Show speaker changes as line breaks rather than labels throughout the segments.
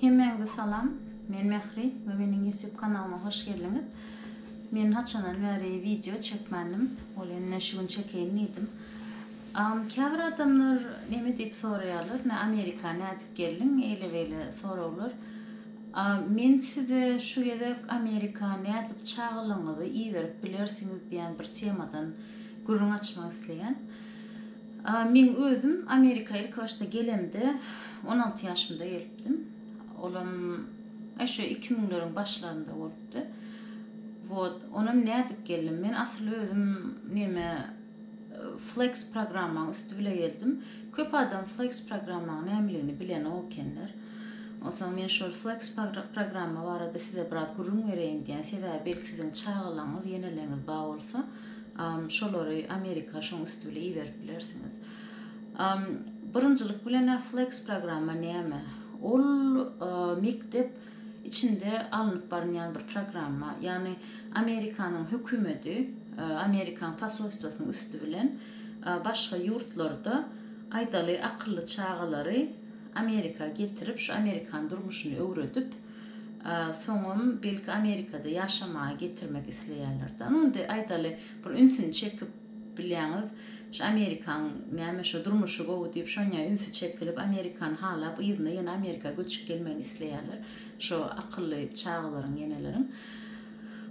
Hemmäňize salam. Men Mähri we meniň YouTube kanalyma hoş geldiňiz. Men haçandan bäri wideo çekmändim. Ol indi şu gün çekeýin diýdim. Agam käbir adamlar neme diýip soraýarlar, nä Amerika nädip geldiň, eýle-beýle soraglar. A men size şu gezek Amerika nädip çagalygyňyzy iberip bilersiňiz diýen bir temadan gürrüň açmak isleýän. A men özüm Amerika ilki başda gelemde on alty ýaşymda gelipdim. Olam e şu iki müňleriň başlarynda bolupdy. Wot, onam nädip geldim? Men asyl özüm neme Flex programmaň üsti bile gezdim. Köp adam Flex programmaň nämeligini bilenok ekenler. Onsoň men şol Flex programma barada size biraz gürrüň bereýin diýän. Sebäbi belki siziň çagalaryňyz, ýeneleňiz bar bolsa, şolary Amerika şoň üsti bile iberip bilersiňiz. Birinjilik bilen-ä Flex programma näme? Ol mekdep içinde alnyp barynýan bir programma ýagny Amerikanyň hökümedi Amerikan posolstwasynyň üsti bilen başga ýurtlarda aýdaly akylly çagalary Amerika getirip şu Amerikan durmuşyny öwredip soňam belki Amerikada ýaşamaga getirmek isleýärler da indi aýdaly bir ünsüni çekip Bilýäňiz, şu amerikan näme, şu durmuşy gowy diýip, şonýa ünsi çekilip, amerikany halap, yzyna ýene Amerika göçüp gelmegini isleýärler, şo akylly çagalaryň, ýeneleriň.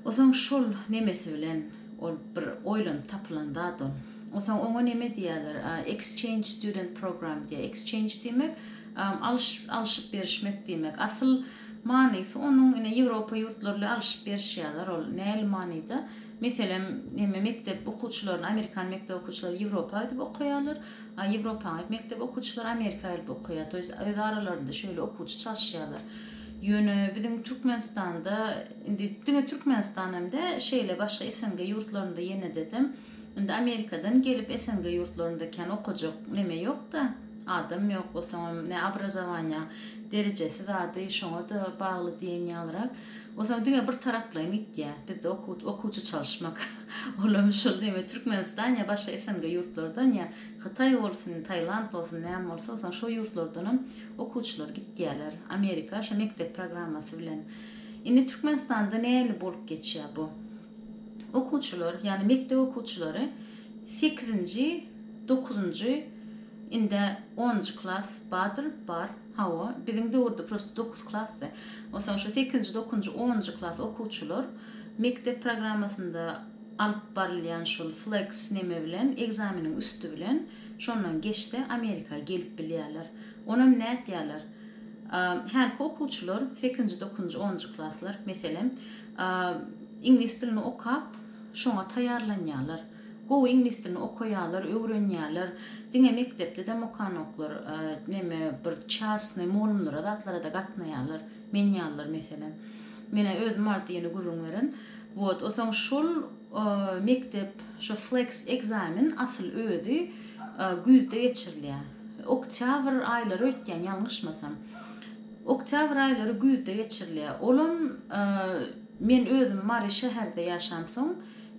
Osaň şol nemesi bilen, ol bir oýlanyp tapylan zat ol. Osaň oňa neme diýýärler, exchange student program diýýär. Exchange diýmek, alyş, alşyp berişmek diýmek. Asyl manysy onuň, ine, Ýewropa ýurtlary ile alşyp berişýärler, ol näli manyda? Meselem, hemme mekdep okuwçylaryny amerikan mekdep okuwçylary Ýewropa gidip okaýarlar, a Ýewropaň mekdep okuwçylary Amerika gelip okaýar. To ýest, öz aralarynda şeýle okuwçy çalyşýarlar. Ýöne biziň Türkmenistanda, indi diňe Türkmenistan hem däl, şeýle başga SNG ýurtlarynda ýene dedem, indi Amerikadan gelip SNG ýurtlarynda kän okajak neme ýok-da, adam ýok, bolsaňam ne obrazowaniýa derejesi zady şoňa-da bagly diýen ýalyrak. Bolsa diňe bir taraplaýyn gitýär. Bizde okuw okuwçy çalyşmak ulamy şul diýme Türkmenistan ýa başga SNG ýurtlardan ýa Hytaý bolsun Tailand bolsun näme bolsa bolsun şo ýurtlardanam okuwçylar gitýärler Amerika şo mekdep programmasy bilen. Indi Türkmenistanda näli bolup geçýär bu. Okuwçylar, ýagny mekdep okuwçylary sekizinji, dokuzynjy, ind-ä onunjy klas bardyr, bar, hawa, biziň döwürde prosto dokuz klasdy. Onsoň şu sekizinji, dokuzynjy, onunjy klas okuwçylar mekdep programmasynda alyp barylýan şol flex neme bilen, ekzameniň üsti bilen şondan geçse Amerika gelip bilýärler. Onam nätýärler? Hälki okuwçylar, sekizinji, dokuzynjy, onunjy klaslar, meselem, Iňlis dilini okap, şoňa taýýarlanýarlar. Gowy iňlis dilini okaýarlar, öwrenýärler. Diňe mekdepde-dem okanoklar. Näme, bir çasnyý mugallymlara, zatlara-da gatnaýarlar. Men ýalylar, meselem. Men-ä özüm bar diýeni gürrüň beren. Wot, o soň şol mekdep, şo fleks ekzamen asyl özi güýzde geçirilýär. Oktýabr aýlary öýtýän, ýalňyşmasam. Oktýabr aýlary güýzde geçirilýär. Olam men özüm Mary şäherde ýaşamsoň,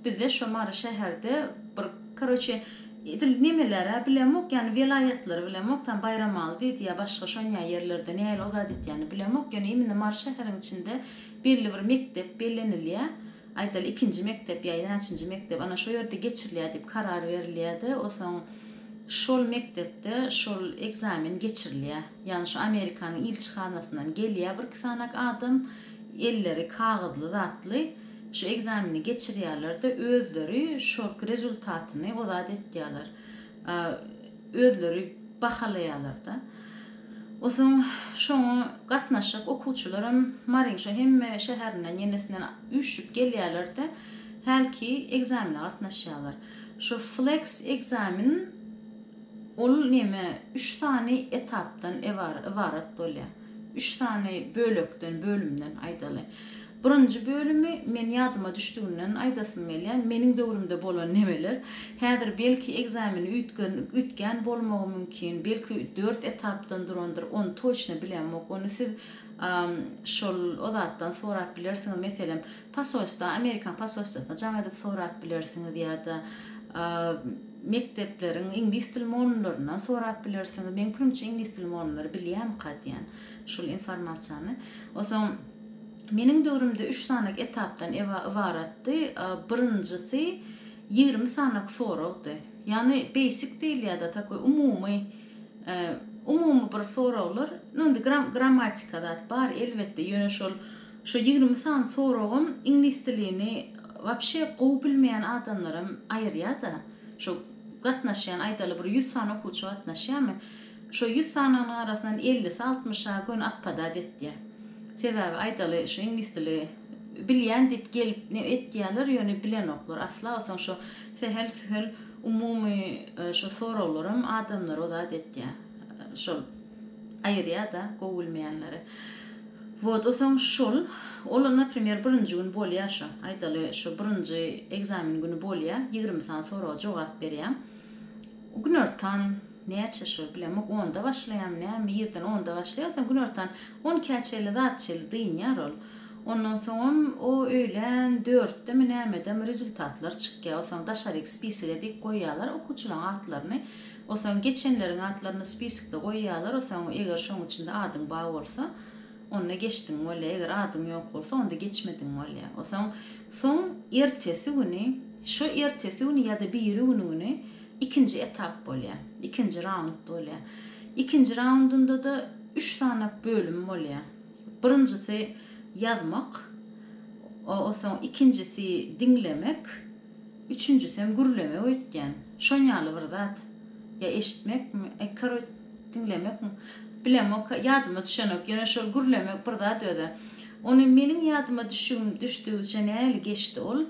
bizde şo Mary şäherde bir koroçe edil nemeler-ä bilemok, ýagny welaýatlary bilemok, tam Baýramaly diýdi ýa başga şonýa ýerlerde nähili o zat etýänini bilemok, ýöne imine Mary şäheriň içinde belli bir mekdep bellenilýär. Aýdaly ikinji mekdep ýa näçinji mekdep ana şo ýerde geçirilýär diýip karar berilýär-de, onsoň şol mekdepde şol ekzamen geçirilýär. Ýagny şu Amerikanyň ilçihanasyndan gelýär birki sanak adam, elleri kagyzly zatly şu ekzameni geçirýärler-de, özleri şolky rezultatyny o zat etýärler. Özleri bahalaýarlar-da. Osoň şoňa gatnaşyk okuwçylaram Maryň şo hemme şäherinden, ýenesinden üýşüp gelýärler-de, hälki ekzamene gatnaşýarlar. Şu Flex ekzamen. Ol näme, üç sany etapdan ybarat bolýar. Üç sany bölekden, bölümden aýdaly. Birinji bölümi men ýadyma düşdüginden aýdasym gelýär. Meniň döwrümde bolan nemeler. Häzir belki ekzameni üýtgän bolmagy mümkin. Belki dört etapdan durandyr. Ony toçna bilemok. Ony siz şol o zatdan sorap bilersiňiz. Meselem, Posolstwa, Amerikan posolstwasyna jaň edip sorap bilersiňiz ýa-da mekdepleriň iňlis dil molunlaryndan sorap bilersiňiz. Meň pikirimçe iňlis dil molunlary bilýärmika diýen şul informasiýany. Onsoň meniň döwrümde üç sanak etapdan ybaratdy. Birinjisi ýigrimi sanak soragdy. Ýagny beýsik diýilýärdi, takoý umumy umumy bir soraglar. Indi grammatika zat bar elbetde, ýöne şol Şu ýigrimi sany soragym iňlis dilini wapşe gowy bilmeýän adamlaram aýyrýada. Şu gatnaşýan aýdaly bir ýüz sany okuwçy gatnaşýamy? Şo ýüz sanynyň arasyndan ellisi altmyşa göni atpadat etýä. Sebäbi aýdaly şu iňlis dili bilýän diýip gelip ne etýäler ýöne bilenoklar asla bolsaň şo sähel sühel umumy şo soraglaram adamlary ozat etýä. Şol. aýyrýada gowy bilmeýänleri wot o soň şol ol naprimer birinji gün bolýa şo aýdaly şo birinji ekzamen güni bolýa ýigrimi sany soraga jogap berýäň günortan näçe şo bilemok onda başlaýamy nämi irden onda başlaýa o soň günortan on ikä çenli zat çenli dynýar ol ondan soňam o öýlän dörtdemi nämedem rezultatlar çykýa o soň daşaryk spisige dik goýýalar okuwçylaň atlaryny Osaň geçenleriň atlaryny spiskde goýýalar osaň eger şoň içinde adyň ba bolsa onda geçdiň bolýa eger adyň ýok bolsa onda geçmediň bolýa osaň soň ertesi güni şo ertesi güni ýada biri güni güni ikinji etap bolýa ikinji raund bolýa ikinji raundundada üç sanak bölüm bolýa birinjisi ýazmak osaň ikinjisi diňlemek. Üçünjisem gürlemek öýtýän. Şonýaly bir zat. Ýa eşitmekmi, e koroç, diňlemekmi? Bilemok, ýadyma düşenok. Ýöne şol gürlemek bir zat özä. Ony meniň ýadyma düşügim düşdügiçe näli geçdi ol.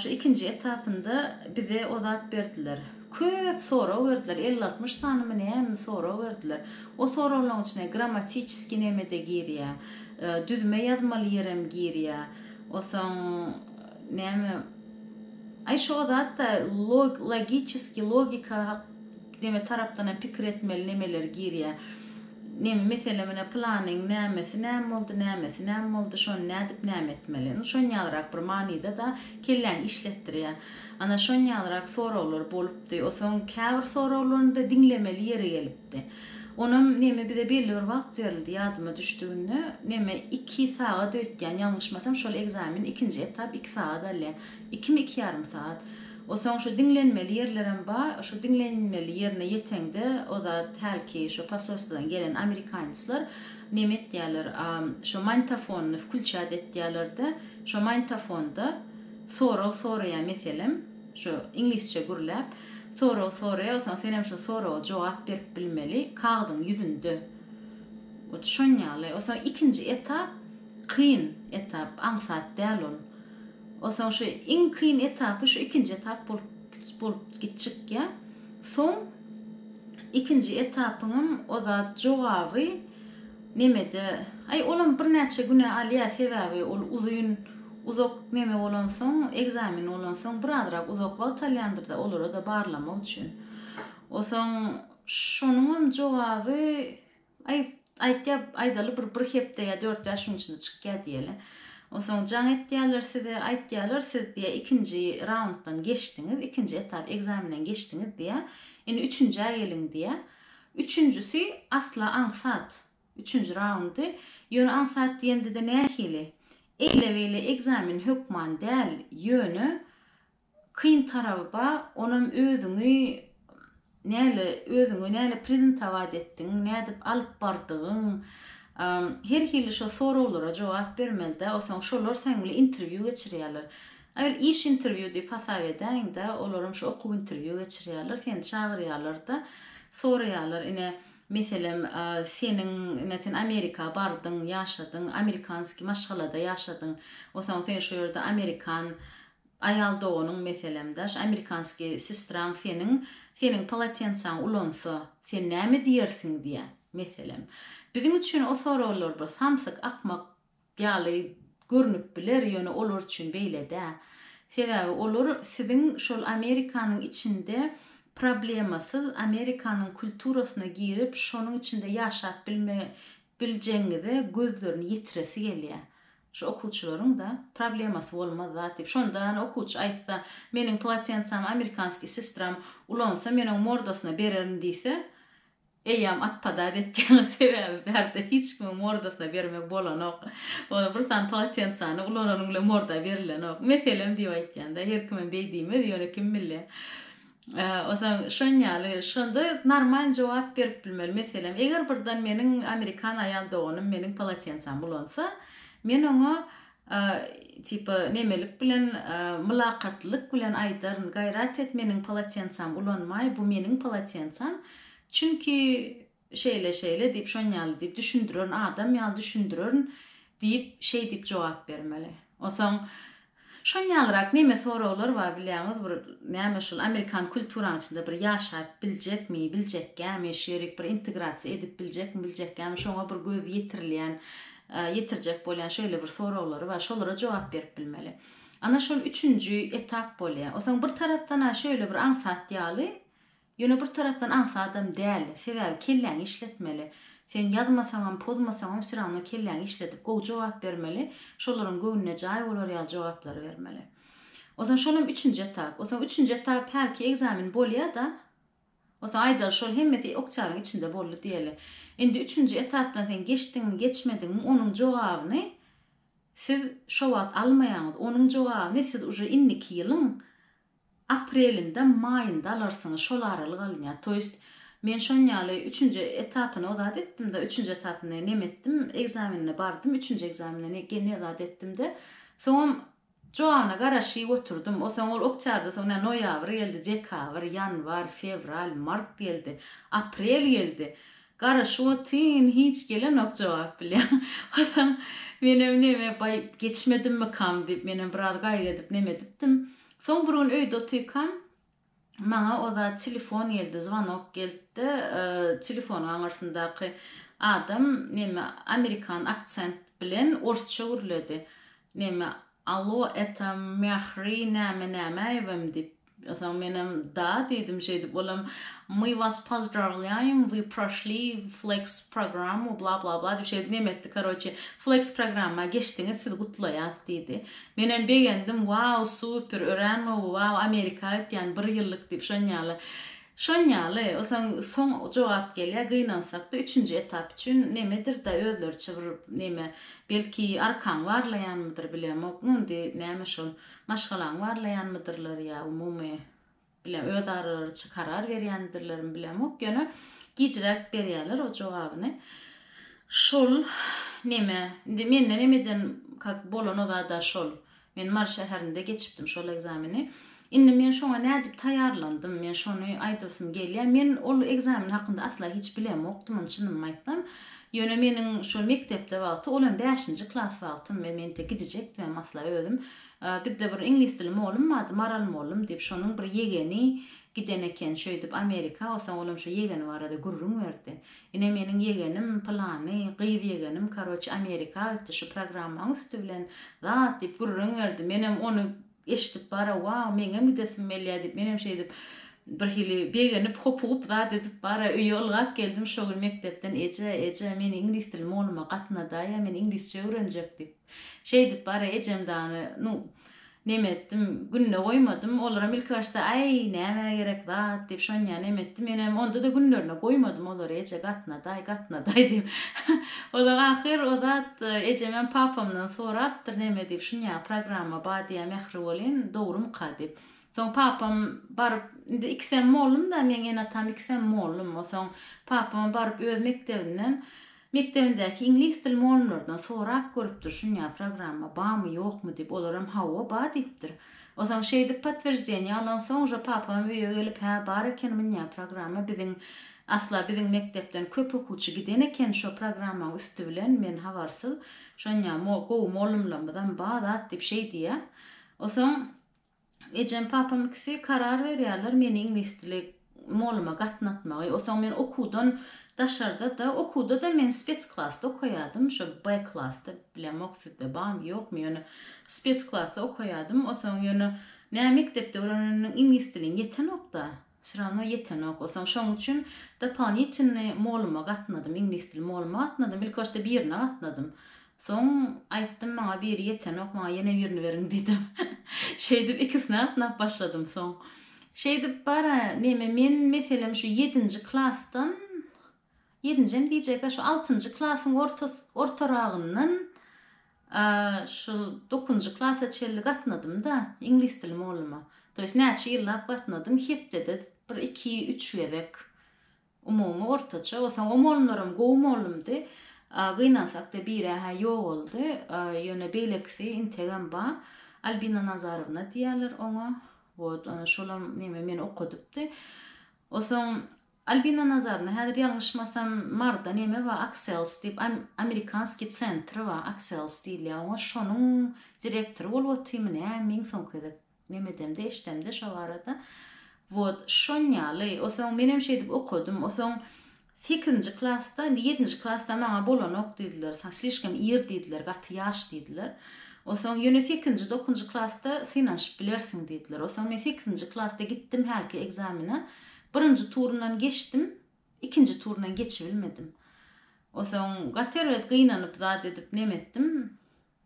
Şu ikinji etapynda bize o zat berdiler. Köp sorag berdiler. Elli altmyş sanymy nämemi sorag berdiler. O soraglaryň içine grammatiçeskiý neme-de girýär. Düzme ýazmaly ýerem girýär. Osaň Näme Aý şo zatda log logiçeski logika hak neme tarapdanam pikir etmeli nemeler girýä neme mesele menä planyň nämesi näme boldy nämesi näme boldy şony nädip näme etmeli nu şon ýalyrak bir manyda da kelläňi işletdirýä ana şon ýalyrak soraglar bolupdy osaň käbir soraglaryny da diňlemeli ýeri gelip. Onam neme bize belli bir wagt berildi ýadyma düşdüginde neme iki sagat öýtýän ýalňyşmasam şol ekzamen ikinji etap iki sagat alýa ikimi iki ýarym sagat osaň şu diňlenmeli ýerlerem ba şo diňlenmeli ýerine ýeteňde ozat hälki şo posolstwadan gelen amerikanyslar neme etýäler a şo manýtafonyny wklçýat etýälerde şo manýtafonda sorag soraýa meselem Şu iňlisçe gürläp, sorag soraýawsan, sen hem şu soraga jogap berip bilmeli, kagyzyň ýüzünde. Hut şon ýaly. Onsoň ikinji etap kyn etap, aňsat däl ol. Onsoň şu iň kyn etapy şu ikinji etap bolup bolup gitjikýä. Soň ikinji etapyňam o zat jogaby, Nemede, aý olam birnäçe güne alýa sebäbi ol uzyn uzak neme bolansoň ekzamen bolansoň birazrak uzak wagt alýandyrda olarada barlamak üçin. Osaň şonuňam jogaby aý aýtýa aýdaly bir bir hepde ýa dört bäş gün içinde çykýa diýeli. Osaň jaň etýäler size aýtýalar siz diýe ikinji raunddan geçdiňiz ikinji etap ekzamenden geçdiňiz diýe indi üçünjä geliň diýe. Üçünjisi asla aňsat. Üçünji raundy. Ýöne aňsat diýendede nähili? Eýle-beýle ekzamen hökman däl, ýöne kyn taraby ba, onam özüňi näle özüňi näle prezentowat etdigiň, nädip alyp bardygyň, her hili şo soraglara jogap bermelidä, osaň şolar seň bile interwýu geçirýärler. Aýr iş interwýu diýip hasap edäýiňdä, olaram şu okuw interwýu geçirýärler, seni çagyrýarlar-da, soraýarlar, ine, meselem, seniň, ine, sen Amerika bardyň, ýaşadyň, amerikanskiý maşgalada ýaşadyň, onsoň seniň şu ýerde amerikan aýal doganyň, meselem-dä, şu amerikanskiý sestraň seniň, seniň polotensaňy ulansa, sen näme diýersiň diýýär, meselem. Biziň üçin o soraglar bir samsyk, akmak ýaly görnüp biler, ýöne olar üçin beýle däl. Sebäbi olar siziň şol Amerikanyň içinde problemasyz, Amerikanyň kulturasyna girip, şonuň içinde ýaşap bilme biljegiňize gözlerini ýetiresi gelýär. Şu okuwçylaryň-da problemasy bolmaz zat diýip. Şonda ýa-ni okuwçy aýtsa, Meniň polotensami amerikanskiý sestram ulansa, men oň mordasyna bererin diýse, Eýýäm at podat etýäňiz sebäbi bärde hiç kimiň mordasyna bermek bolanok. Ony bir sany polotensany ulananyň bile morda berilenok. Meselem diýip aýtýanda her kimem beý diýmez ýöne kim bilýä. Onsoň şonýaly şonda normal jogap berip bilmeli. Meselem eger birden meniň amerikan aýal doganym meniň polotensamy ulansa men oňa Tipa, nemelik bilen, mylakatlylyk bilen aýdaryn, gaýrat et, meniň polotensam ulanmaý, bu meniň polotensam. Çünki, şeýle-şeýle diýip, şon ýaly diýip düşündirerin, adam ýaly düşündirerin diýip, şeý diýip jogap bermeli. Onsoň, şon ýalyrak neme soraglar bar bilýäňiz, bir näme şul amerikan kulturaň içinde bir ýaşap biljekmi, biljekgämi, şu ýerik bir integrasiýa edip biljekmi, biljekgämi, şoňa bir göz ýetirilýän ýetirjek bolýan şeýle bir soraglary bar, şolara jogap berip bilmeli. Ana şol üçünji etap bolýar. Onsoň bir tarapdan-a şeýle bir aňsat ýaly, ýöne bir tarapdan aňsadam däl. Sebäbi kelläňi işletmeli. Sen ýazmasaňam, pozmasaňam wsyrawno kelläňi işledip gowy jogap bermeli, şolaryň göwnüne jaý bolar ýaly jogaplary bermeli. Onsoň şolam üçünji etap. Onsoň üçünji etap hälki ekzamen bolýar-da. Bolsa aýdaly şol hemmesi ykjalyň içinde boldy diýeli. Indi üçünji etapdan sen geçdiňmi geçmediňmi onuň jogabyny siz şo wagt almaýaňyz, onuň jogabyny siz uje indiki ýylyň aprelinde maýynda alarsyňyz şol aralyk alynýar. To ýest men şonýaly üçünji etapyny ozat etdimde üçünji etapyny nem etdim ekzamenine bardym üçünji ekzamenine ne zat etdimde soňam Jogabna garaşyp oturdym. Osaň ol oktarda soň nä noýabr geldi, dekabr, ýanwar, fewral, mart geldi, aprel geldi. Garaşyp otyn, hiç gelenok jogap bilen. Osaň menem neme, baý, geçmedimmikam diýip, menem biraz gaýgy edip neme edipdim. Soň bir gün öýde otykam. Maňa o zat telefon geldi, zwanok geldi. Telefonyň aňyrsyndaky adam näme amerikan aksent bilen orsça gürledi. Näme Allo, eta Mähri näme Nämäýewem diýip. Soň menem da diýdim şeýdip. Olam My was pozdravlýaýym, wy proşli flex programmu bla bla bla diýip şeýdip nemetdi karoçi. Flex programma geçdiňiz sizi gutlaýas diýdi. Menem begendim wow super örän gowy wow amerika aýtýan bir ýyllyk diýip şonýaly şonýaly soň soň jogap gelýär gynansakda üçünji etap üçin nemedirda özleriçe bir neme belki arkaň barlaýanmydyr bilemok nu indi näme şol maşgalaňy barlaýanmydyrlar ýa umumy bilen öz aralaryça karar berýändirlermi bilemok ýöne gijräk berýäler o jogabyny şol neme indi mende neme eden kak bolan o zada şol men mary şäherinde geçipdim şol ekzameni indi men şoňa nädip taýýarlandym men şony aýdasym gelýär men ol ekzamen hakynda asla hiç bilemokdymyn çynymy aýtsam ýöne meniň şol mekdepde wagty ol hem bäşinji klas wagtym men mente gidijekdimem asla özüm Bizde bir iňlis dili mollum ady Maral mollum diýip şonuň bir ýegeni giden eken şöýdip Amerika osaň olam şo ýegeni barada gürrüň berdi. Ine meniň ýegenim pylany gyz ýegenim karoçe Amerika gitdi şu programmaň üsti bilen zat diýip gürrüň berdi menem ony eşdip bara wau meňem gidesim gelýä diýip menem şeýdip birhili begenip hopugyp zat edip bara öýe ylgap geldim şo gün mekdepden eje eje meni iňlis dili molluma gatnadaýa men iňlisçe öwrenjek diýip. Şeýdip bara ejem dany, nu, neme etdim, gününe goýmadym. Olaram ilki başda, Aý, nämä gerek zat diýip, şonýa neme etdi. Menem onda-da günlerine goýmadym olary, eje, gatna-daý, gatna-daý diýip. Ozal ahyr o zat ejemem papamdan sorapdyr, neme diýip, şunýa programma ba diýýä Mähri bolyn, dogrumyka diýip. Soň papam baryp, indi ikisem mollum-da, meň ene-atam ikisem mollum. Osaň papam baryp öz mekdebinden, Mekdebindäki iňlis dil molllardan sorap görüpdir şunya programma bamy ýokmy dip olaram hawa ba dipdir osaň şeýdip potwieždeniýe alan soň uža papam öýe gelip hä bar eken munya programma biziň asla biziň mekdepden köp okuwçy giden eken şo programmaň üsti bilen men habarsyz şonya gowy mollymlamyzam ba zat dip şeýdiýä osaň Ejem papam ikisi karar berýärler meni iňlisdili mugalluma gatnatmagy. Osaň men okuwdan daşarda-da, okuwda-da men spes klasda okaýardym, şo B klasda, bilemok sizde barmy, ýokmy, ýöne spes klasda okaýardym. Osaň ýöne nä mekdepde öwreneniň iňlis diliň ýetenok-da. Wsё rawno ýetenok bolsaň şoň üçin dopolinitelny moluma gatnadym iňlis dil moluma gatnadym ilki başda birine gatnadym soň aýtdym maňa biri ýetenok maňa ýene birini beriň diýdim şeýdip ikisine gatnap başladym soň şeýdip bara neme men meselem şu ýedinji klasdan Ýerinjem diýjek-ä şu altynjy klasyň ortaragyndan şul dokuzynjy klasa çenli gatnadym-da iňlis dili molluma. To ýest näçe ýyllap gatnadym, hepdede bir iki, üç gezek umumy ortaça. Osaň o mollumlaram gowy mollumdy. Gynansak-da bir-ä-hä ýogaldy. Ýöne beýlekisi integem ba, Albina Nazarowna diýýärler oňa. Wot, ana şolam neme meni okadypdy. Osaň Albina Nazarna häzir ýalňyşmasam Marda neme ba Aksels diýip amerikanskiý centr ba Aksels diýilýä oňa şonuň direktory bolup otyrmy näme iň soňky gezek neme edemde eşdemde şo barada wot şonýaly osoň menem şeýdip okadym osoň sekizinji klasda indi ýedinji klasda maňa bolanok diýdiler saň slişkom ir diýdiler gaty ýaş diýdiler osoň ýöne sekizinji dokunjy klasda synanyşyp bilersiň diýdiler osoň men sekizinji klasda gitdim hälki ekzamene Birinji turundan geçdim, ikinji turundan geçibilmedim. Onsoň gaty erbet gynanyp zat edip neme etdim,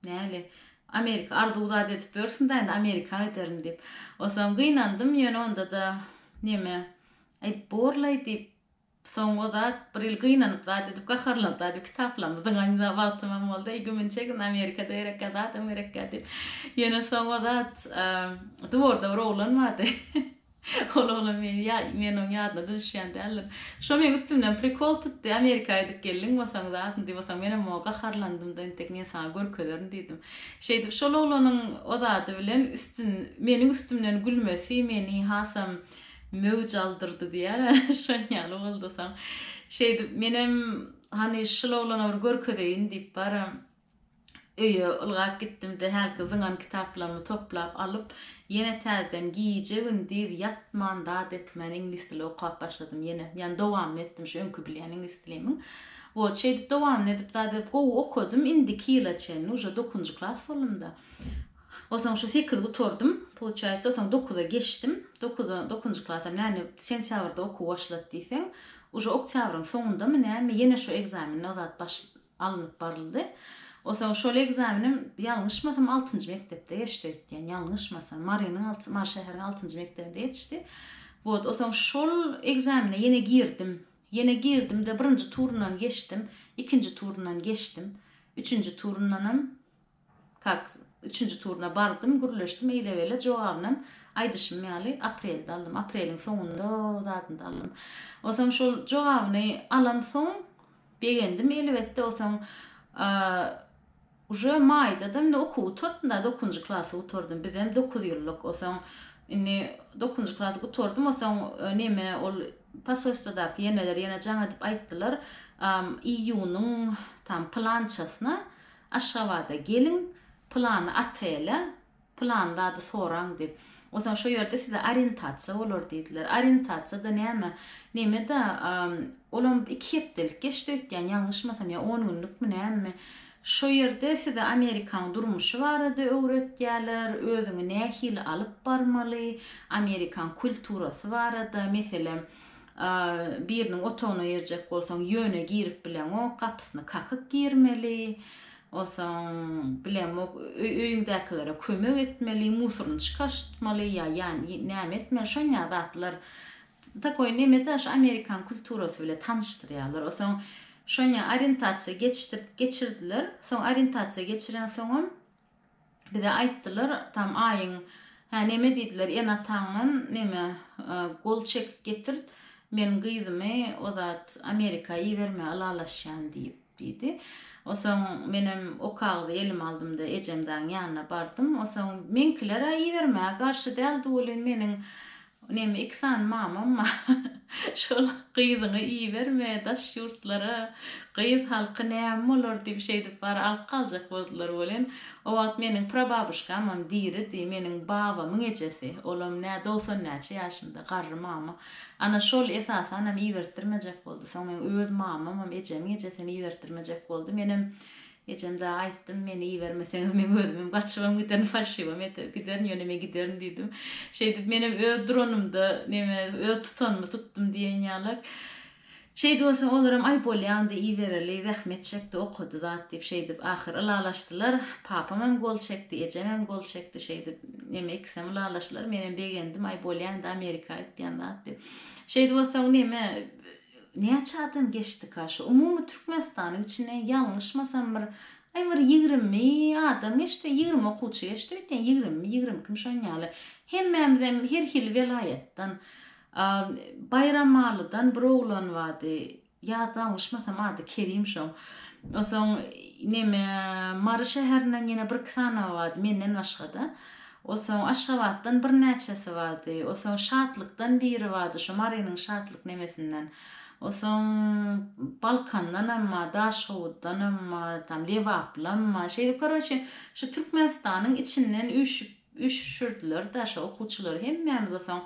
nähili, Amerika, arzuw zat edip ýörsiň-dä indi Amerika giderin diýip. Onsoň gynandym, ýöne onda-da neme, aý borlaý diýip, soňky zat, bir ýyl gynanyp zat edip gaharlanyp zat edip kitaplarmy zyňan wagtymam boldy, aý güminçegin Amerika-da gerekkä, zadam gerekkä diýip. Ýöne soňky zat, dworda bir oglan bardy. Ol oglan meni ýa men oň ýadyna düşýän däldim. Şo meň üstümden prikol tutdy, Amerika aýdyp geldiň bolsaň zatyn diýbosaň menem oňa gaharlandymda entek men saňa görkezerin diýdim. Şeýdip şol oglanyň ozady bilen üstün meniň üstümden gülmesi meni hasam möwj aldyrdy diýär a şonýaly boldusoň şeýdip menem hany şul oglana bir görkezeýin diýip baram. Öýe ylgap gitdim-de, hälki zyňan kitaplarymy toplap alyp, ýene täzeden gije-gündiz ýatman zat etmän iňlis dili okap başladym ýene. Ýagny dowamyny etdim şu öňki bilýän iňlis dilimiň. Wot, şeýdip dowamyny edip zat edip gowy okadym, indiki ýyla çenli uje dokuzynjy klas boldum-da. Onsoň şu sekiz gutardym, pouçaýsa, onsoň dokuza geçdim. Dokuza, dokuzynjy klasam näne sentýabrda okuw başlady diýseň, uje oktýabryň soňundamy näme ýene şu ekzameni zat baş, alnyp baryldy. Osaň şol ekzamenem ýalňyşmasam altynjy mekdepde geçdi öýtýän ýalňyşmasam Marynyň alty Mary şäheriniň altynjy mekdebinde geçdi. Wot osaň şol ekzamene ýene girdim. Ýene girdimde birinji turundan geçdim, ikinji turundan geçdim, üçünji turundanam Kak, üçünji turuna bardym, gürleşdim, eýle-beýle, jogabynam, aýdyşym ýaly, aprelde aldym. Apreliň soňunda zadynda aldym. Onsoň şol jogabyny alansoň, begendim, elbetde, onsoň, uje maýda-da, indi okuw gutardym-da, dokuzynjy klasy gutardym, bizem dokuz ýyllyk, onsoň, indi dokuzynjy klasy gutardym, onsoň, neme, ol posolstwadaky eneler ýene jaň edip aýtdylar, iýunyň, tam, pylançasyna, Aşgabada geliň, pylany otele, pylan zady soraň diýip. Onsoň şo ýerde size orientasiýa bolar diýdiler. Orientasiýa-da näme? Neme-de, olam iki hepdelik geçdi öýtýän, ýalňyşmasam, ýa on günlükmi, nämemi. Şo ýerde size Amerikanyň durmuşy barada öwretýärler, özüňi nähili alyp barmaly, Amerikan kulturasy barada, meselem, Biriniň otagyna girjek bolsaň, ýöne girip bileňok, gapysyny kakyp girmeli. Onsoň, bilemok, öýüňdäkilere kömek etmeli, musoryny çykaryştmaly ýa näme etmeli, şonýa zatlar. Takoý neme da, şu amerikan kulturasy bile tanyşdyrýarlar. Onsoň, şonýa orientasiýa geçirdiler. Soň orientasiýa geçirensoňam, Bize aýtdylar, tam aýyň, hä, neme diýdiler, ene-ataňdan, neme, gol çekip getirt, men gyzymy o zat Amerika ibermä ylalaşýan diýip, diýdi. Osoň menem o kagyzy elime aldym-da, ejemzaň ýanyna bardym. Osoň meňkiler-ä ibermäge garşy däldi welin, meniň Neme iki sany mamam bar. Şol gyzyňy iberme daş ýurtlara. Gyz halky näme bolar diýip şeýdip bary alyp galjak boldular welin, o wagt meniň prababuşkamam diridi, meniň babamyň ejesi, olam nä dogsan näçe ýaşynda, garry mama. Ana şol esasanam ibertdirmejek boldy. Soň meň öz mamamam, ejemiň ejesem ibertdirmejek boldy. Menem Ejem dagy aýtdym, meni ibermeseňiz meň özümem gaçybam giderin, falşiwam ete, giderin, ýöne men giderin diýdim. Şeýdip menem öz duranymda, neme, öz tutanymy tutdum diýen ýalak. Şeýdip onsoň olaram, aý bolýa onda ibereli, zähmet çekdi, okady zat diýip, şeýdip ahyr ylalaşdylar. Papamam gol çekdi, ejemem gol çekdi, şeýdip, neme, ikisem ylalaşdylar. Menem begendim, aý bolýa indi Amerika git diýen zat diýip. Şeýdip onsoň neme, Näçe adam geçdika şu umumy Türkmenistanyň içinden ýalňyşmasam bir aý bir ýigrimi adam geçdi ýigrimi okuwçy geçdi öýtýän ýigrimimi ýigrimi ikimi şon ýaly hemmämizem her hili welaýatdan Baýramalydan bir oglan bardy ýa dalňyşmasam ady Kerim şoň onsoň neme Mary şäherinden ýene bir iki sany bardy menden başgada Osoň Aşgabatdan birnäçesi bardy. Osoň Şatlykdan biri bardy, şo Marynyň Şatlyk nemesinden. Osoň Balkandanam bar, Daşoguzdanam bar, tam Lebaplam bar. Şeýdip, koroçe, şu Türkmenistanyň içinden üýşüp, üýşürdiler-de şo okuwçylary. Hemmämiz osoň,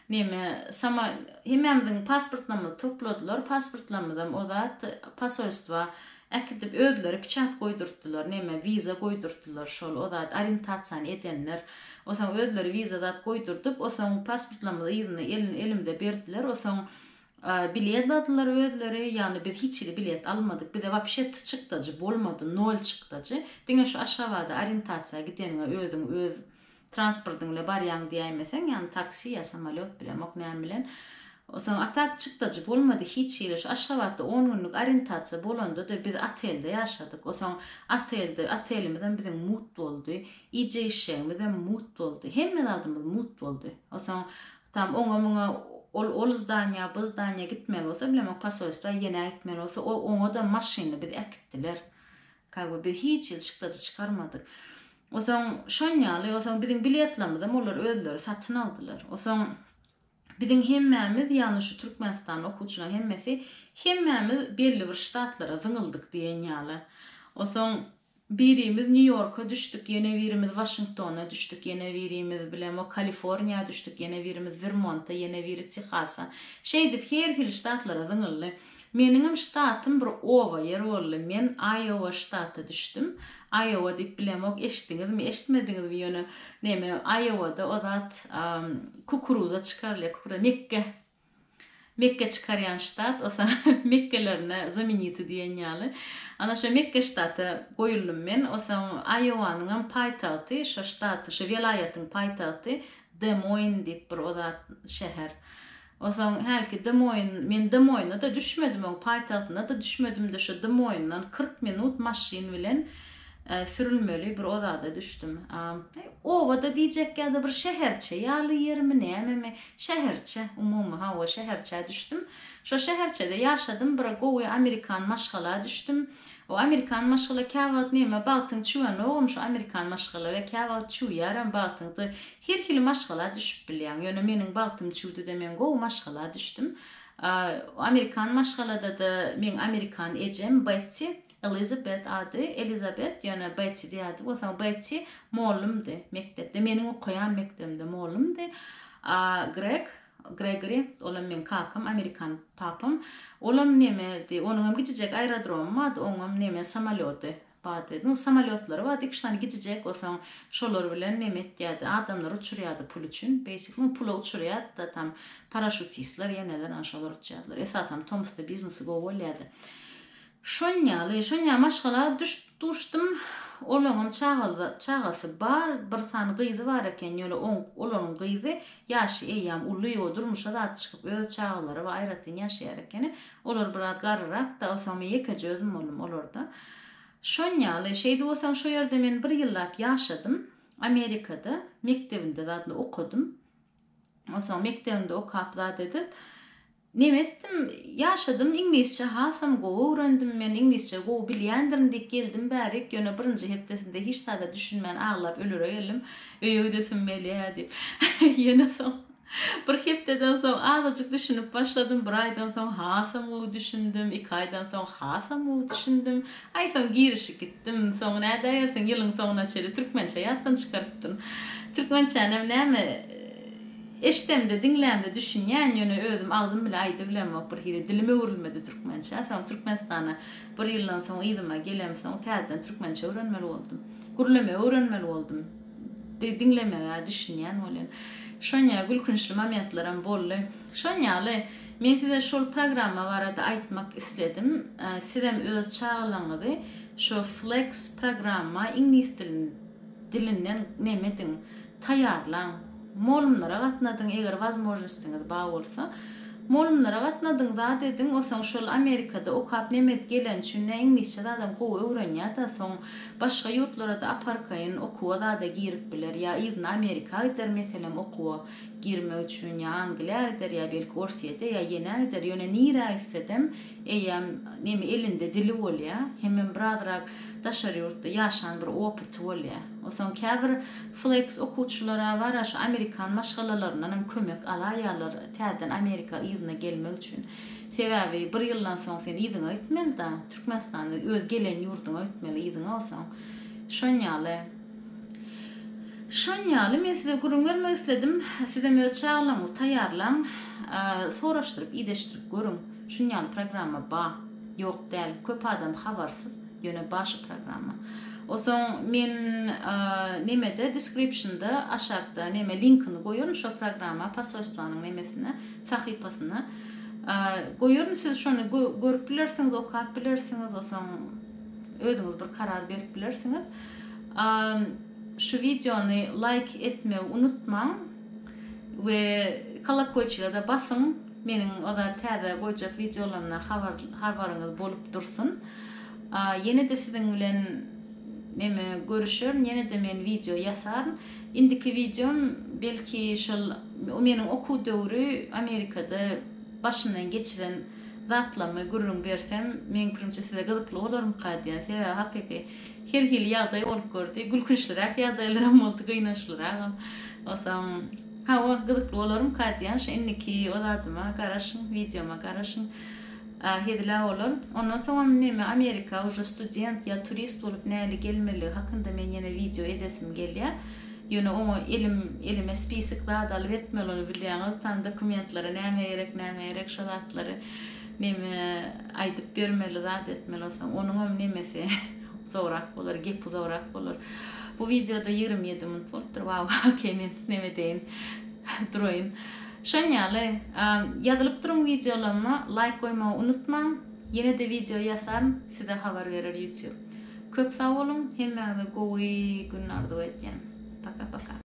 neme, samo, hemmämiziň pasportlarymyzy topladylar. Pasportlarymyzam ozat posolstwa Äkidip özleri piçat goýdurtdylar neme wiza goýdurtdylar şol o zat orientasiýany edenler osaň özleri wiza zat goýdurdyp osaň pasportlarymyzy yzyna elin elimde berdiler osaň bilet dadylar özleri ýagny biz hiç hili bilet almadyk bize wapşe t çykdajy bolmady nol çykdajy diňe şu aşgabada orientasiýa gideniňe özüň öz transportyň bile barýaň diýäýmeseň ýagny taksi ýa samolýot bilemok näme bilen soň a tak çykdajy bolmady hiç hili şu aşgabatda on günlük orientasiýa bolandada biz otelde ýaşadyk o soň otelde otelimizem biziň mut boldy ije işjegimizem mut boldy hemme zadymyz mut boldy o soň tam oňa muňa ol ol zdaniýa bu zdaniýa gitmeli bolsa bilemok posolstwa ýenä gitmeli bolsa o oňa da maşynly bizi äkitdiler Kagu biz hiç ýyl şyklajy çykarmadyk. Osoň şon ýaly, osoň biziň biletlamyzam olar özleri satyn aldylar. Osoň biziň hemmämiz, ýagny şu Türkmenistanda okuwçylaň hemmesi, hemmämiz belli bir ştatlara zyňyldyk diýen ýaly. Osoň birimiz Nýu-Ýorka düşdük, ýene birimiz Waşingtona düşdük, ýene birimiz bilem o Kaliforniýa düşdük, ýene birimiz Wermonta, ýene biri Tehasa. Şeýdip her hili ştatlara zyňyldy. Meniňem ştatym bir oba ýer boldy. Men Aýowa ştaty düşdüm. Aýowa diýip bilemok, eşitdiňizmi, eşitmediňizmi ýöne neme Aýowada o zat kukuruza çykarylýar, kukura mekge. Mekge çykarýan ştat, o sa mekgelerine zameniti diýen ýaly. Ana şo mekge ştaty goýuldym men. O soň Aýowanyňam paýtagty, şo ştaty, şo welaýatyň paýtagty Demoin diýip bir o zat şäher. Onsoň hälki dym oýun, men dym oýuna-da düşmedim, oň paýtagtyna-da düşmedim-de, şu dym oýundan kyrk minut maşyn bilen sürülmeli bir ozada düşdüm. Oba-da diýjek ýa-da bir şäherçe ýaly ýermi, nämemi, şäherçe, umumy, hawa, şäherçä düşdüm. Şo şäherçede ýaşadym, bir gowy amerikan maşgala düşdüm. O amerikan maşgala käwagt näme, bagtyň çüwenogam, şu amerikan maşgala we käwagt çüwýärem, bagtyňda Her hili maşgala düşüp bilýäň. Ýöne meniň bagtym çüwdüde men gowy maşgala düşdüm. Amerikan maşgaladada meň amerikan ejem Betti, Elizabet ady, Elizabet, ýöne Betti diýerdi. Bolsa Betti mollumdy mekdepde, meniň okaýan mekdebimde mollumdy. Greg, Gregory, olam meň kakam, amerikan papam. Olam nemedi, onuňam kiçijek aerodromy bardy, oňam neme samolýody Bady. Nu samolýotlary bady iki-üç sany gicijek bolsaň şolar bilen neme etýädi adamlary uçurýady pul üçin beýsik nu pula uçurýady-da tam paraşutistler ýeneler ana şolar uçýadylar esasam tomusda biznesy gowy bolýady şon ýaly şon ýaly maşgala düşüp duşdym olaňam çagaly çagasy bar bir sany gyzy bar eken ýöne oň olaryň gyzy ýaşy eýýam uly o durmuşa zat çykyp öz çagalary bar aýratyn ýaşaýar ekeni Olar biraz garryrak-da, onsoňmy ýekeje özüm boldum olarda. Şonýaly, şeýdip onsoň şo ýerde men bir ýyllap ýaşadym. Amerikada, mekdebinde zadynda okadym. Onsoň mekdebinde okap zat edip, neme etdim, ýaşadym, iňlisçe hasam gowy öwrendim men, iňlisçe gowy bilýändirin diýip geldim bärik, ýöne birinji hepdesinde hiç zada düşünmän aglap ölere geldim, öýe gidesim gelýä diýip. Ýöne soň. Bir hepdeden soň azajyk düşünip başladym, bir aýdan soň hasam gowy düşündim, iki aýdan soň hasam gowy düşündim. Aý soň girişip gitdim. Soňy nädäýersiň, ýylyň soňuna çenli türkmençe ýatdan çykarypdym. Türkmençänem näme, eşidemde, diňlämde düşünýän, ýöne özüm agzym bile aýdybilemok, birhili dilim öwrülmedi türkmençä. Soň Türkmenistana bir ýyldan soň yzyma gelemsoň täzeden türkmençe öwrenmeli boldum. Gürlemegi öwrenmeli boldum. Di diňlemegä düşünýän bolýan. Şonýa gülkünçli momentleram boldy. Şon ýaly, men size şol programma barada aýtmak isledim. Sizem öz çagalaryňyzy şo Flex programma, iňlis dil, dilinden nemediň, taýýarlaň. Molumlara gatnadyň, eger wazmožnostiňiz ba bolsa. Molumlara gatnadyň, zat ediň, osaň şol Amerikada okap nemedi geleni üçin, nä iňlisçe zadam gowy öwrenýä-da, soň Başga ýurtlara-da aparkaýyn okuwa zada girip biler, ýa yzyna Amerika gider meselem okuwa girmek üçin, ýa Angliýa gider, ýa belki Orsýete, ýa ýene gider, ýöne nirä gitsedem eýýäm neme elinde dili bolýa, hemem birazrak daşary ýurtda ýaşan bir opyty bolýa. Onsoň käbir flex okuwçylara bara şu amerikan maşgalalaryndanam kömek alaýýarlar täzeden Amerika yzyna gelmek üçin. Sebäbi bir ýyldan soň sen yzyňa gitmeli da, Türkmenistanda öz gelen ýurduňa gitmeli, yzyňa bolsaň. Şon ýaly. Şon ýaly men size gürrüň bermek isledim. Sizem öz çagalaryňyzy taýýarlaň. Soraşdyryp, ideşdirip görüň. Şun ýaly programma ba. Ýok däl. Köp adam habarsyz. Ýöne ba şu programma. Osoň men nemede description-da aşakda neme linkini goýaryn şo programma posolstwanyň nemesine. sahypasyna goýaryn siz şony görüp bilersiňiz okap bilersiňiz osaň özüňiz bir karar berip bilersiňiz şu wideony laýk etmegi unutmaň we kolokoýçige de basyň meniň oda täze goýjak wideolarymdan habar habaryňyz bolup dursun ýene de siziň bilen neme görüşerin ýene de men wideo ýasaryn Indiki wideom belki şol meniň okuw döwri Amerikada başymdan geçiren zatlarymy gürrüň bersem, meniň pikirimçe size gyzykly bolarmyka diýýän. Sebäbi hakyky her hili ýagdaý bolup gördi. Gülkünçliräk ýagdaýlaram boldy, gynançlyragam. Onsoň, hawa, gyzykly bolarmyka diýýän, şu indiki o zadyma garaşyň, wideoma garaşyň. A hezil-ä olar. Ondan soňam neme Amerika uje student ýa turist bolup näli gelmeligi hakynda men ýene wideo edesim gelýä. Ýöne oňa elim elime spisik zat alyp etmeli ony bilýäňiz tam dokumentlary näme gerek näme gerek şo zatlary neme aýdyp bermeli zat etmeli soň onuňam nemesi uzagrak bolar gepi uzagrak bolar. Bu wideoda ýigrimi ýedi minut bolupdyr waww okey men neme edeýin duraýyn. Şon ýaly, ýazylyp duruň wideolaryma laýk goýmagy unutmaň, ýene-de wideo ýasaryn size habar berer YouTube. Köp sag boluň, hemmäňize gowy gün arzuw edýän. Paka paka.